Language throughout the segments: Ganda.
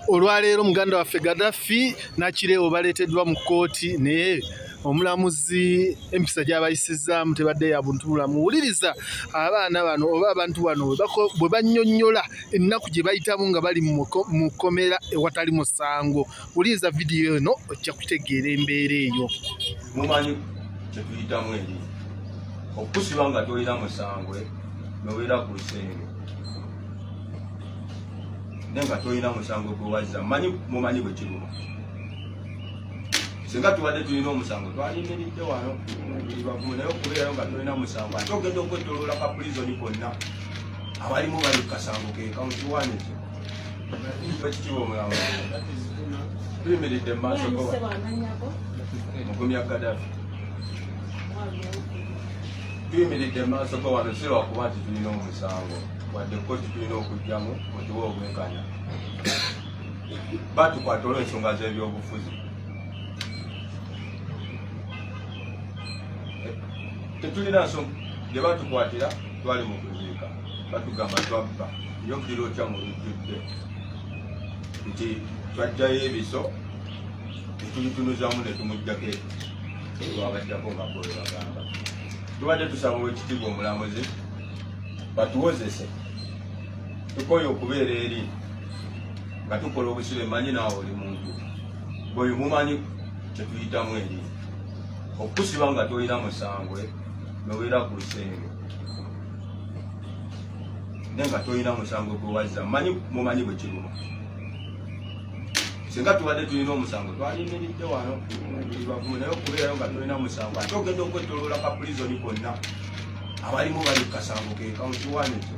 olwaleero muganda waffe Gaddafi Nakireewo baleeteddwa mu kkooti naye omulamuzi empisa gyabayisizzaamu tebadde ya buntu bulamu wuliriza abaana bano oba abantu bano bwe bannyonnyola ennaku gye bayitamu nga bali mu kkomera ewatali musango wuliriza vidiyo eno ojja kutegeera embeera eyo mumanyi kyetuyitamu eri okusiba nga tolina musangwe nobeera ku lusenge naye nga tolina musango gwewazza manyi mumanyi bwekiruma singa tubadde tulina omusango twalimiridde wano bagumu naye okubeerayo nga tolina musango ate ogenda okwetoloola ka pulizoni konna abalimu bali kukasango kekamukiwani ekyo ekitiibwa omulamba tuyimiridde mu maaso go mugumya kadafi tuyimiridde mu maaso go wano si lwakuba nti tulina omusango wadde koti tulina okugyamu mutuwe obwenkanya batukwata olw'ensonga z'ebyobufuzi tetulina nsonga gye batukwatira twali mu kuziika batugamba twabba yobbira otya mu lujjudde nti twajjayo ebiso netubitunuzamu netumujjako lwabajjako nga bwe bagamba tubadde tusaba owekitiibwa omulamuzi batuwozese tukoye okubeera eri nga tukola obusibe manyi naawe oli muntu bweyo mumanyi kyetuyitamu eri okusiba nga tolina musangwe nobeera ku lusenge naye nga tolina musango gwe wazza manyi mumanyi bwe kiruma singa tubadde tulina omusango twalimiridde wano bavumu naye okubeerayo nga tolina musango ate ogenda okwetoloola ka pulizoni konna abalimu bali ku kasango ke kawunti wanekyo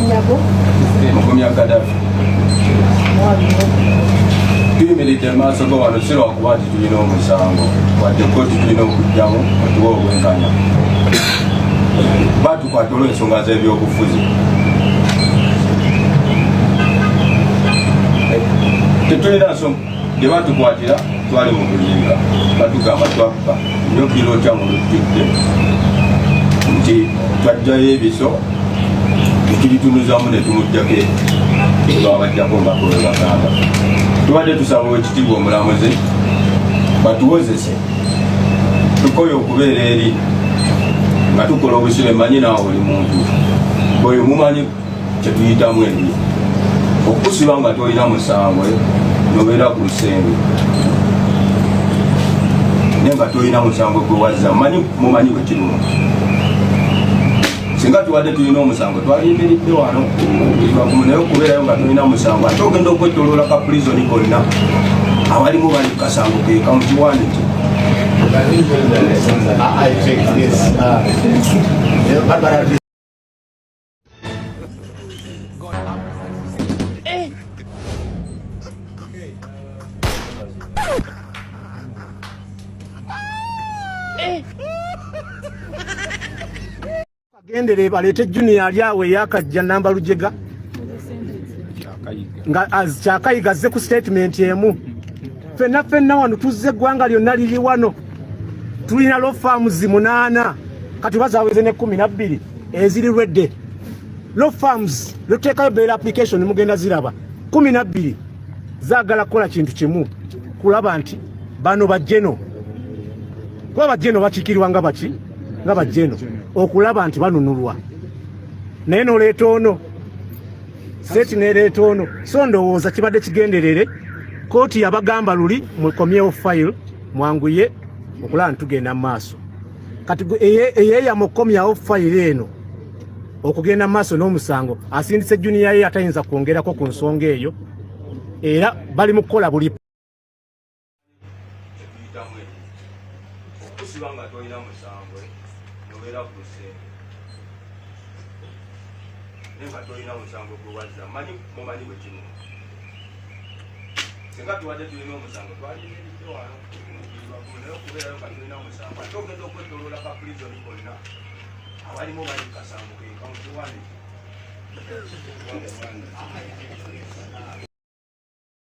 Nyabo. Mugumya Gaddafi. Tuyimiridde mu maaso go wano si lwakuba nti tulina omusango wadde kkooti tulina okujjamu otuwa obwenkanya batukwata olw'ensonga z'ebyobufuzi tetulina nsonga gye batukwatira twali mu bulinga batugamba twabba nyo kiro kya mu lujjudde nti twajjayo ebiso ekiritunuzamu ne tumujjako lwabajjako mbakole bagamba tubadde tusaba ekitiibwa omulamuzi batuwozese tukoye okubeera eri nga tukola obusibe manyi naawe oli muntu oyo mumanyi kyetuyitamu eri okusiba nga tolina musango eh, nobeera ku lusenge naye nga tolina musango gwewazza manyi mumanyi wekiruma singa tubadde tulina omusango twalindiridde wano ivakumu naye okubeerayo nga tulina musango ate ogenda okwetoloola ka pulizoni konna abalimu bali kukasango keka mu kiwani kye I think this. Uh, agendere baleete junior ali awo eyakajja namba lujega nga kyakayiga azze ku statement emu fenna fenna wano tuzze eggwanga lyonna liri wano tulina law farms munaana kati bazaweze ne kumi nabbiri eziri redde law farms lwetuteekayo bail application mugenda ziraba kumi nabbiri zaagala kukola kintu kimu kulaba nti bano bajeno kuba bajeno bakikirirwa nga baki nga bajeno okulaba nti banunulwa naye noleeta ono seti nereeta ono so ndowooza kibadde kigenderere kooti yabagamba luli mukomyewo file mwanguye okulaba nitugenda mu maaso kati eyeeyama okukomyawo file eno okugenda mu maaso n'omusango asindise juniya ye atayinza kwongerako ku nsonga eyo era bali mu kukola buli kyetuyitamu e okusiba nga tolina musambwe nobeera ku lusenge naye nga tolina musambwe gwewazza manyi mumanyi bwekimu singa tuwadde tulina omusango twalinaebiwano naye okubeerayo nga tulina omusango ate ogenda okwetoloola ka prizoni konna abalimu bali kasango kekamukiwaniki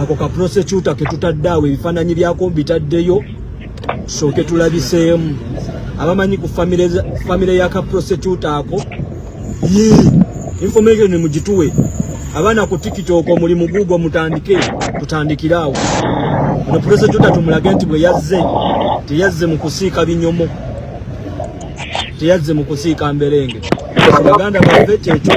ako ka prosecutor ke tutadde awo ebifaananyi byako mbitaddeyo tusooke tulabiseemu abamanyi ku famire ya ka prosecutor ako ye information mugituwe abaana ku tiktok omuli mu google mutandike tutandikire awo ono prosecutor tumulage nti bwe yazze teyazze mu kusiika binyomo teyazze mu kusiika mberenge baganda baffe kyekyo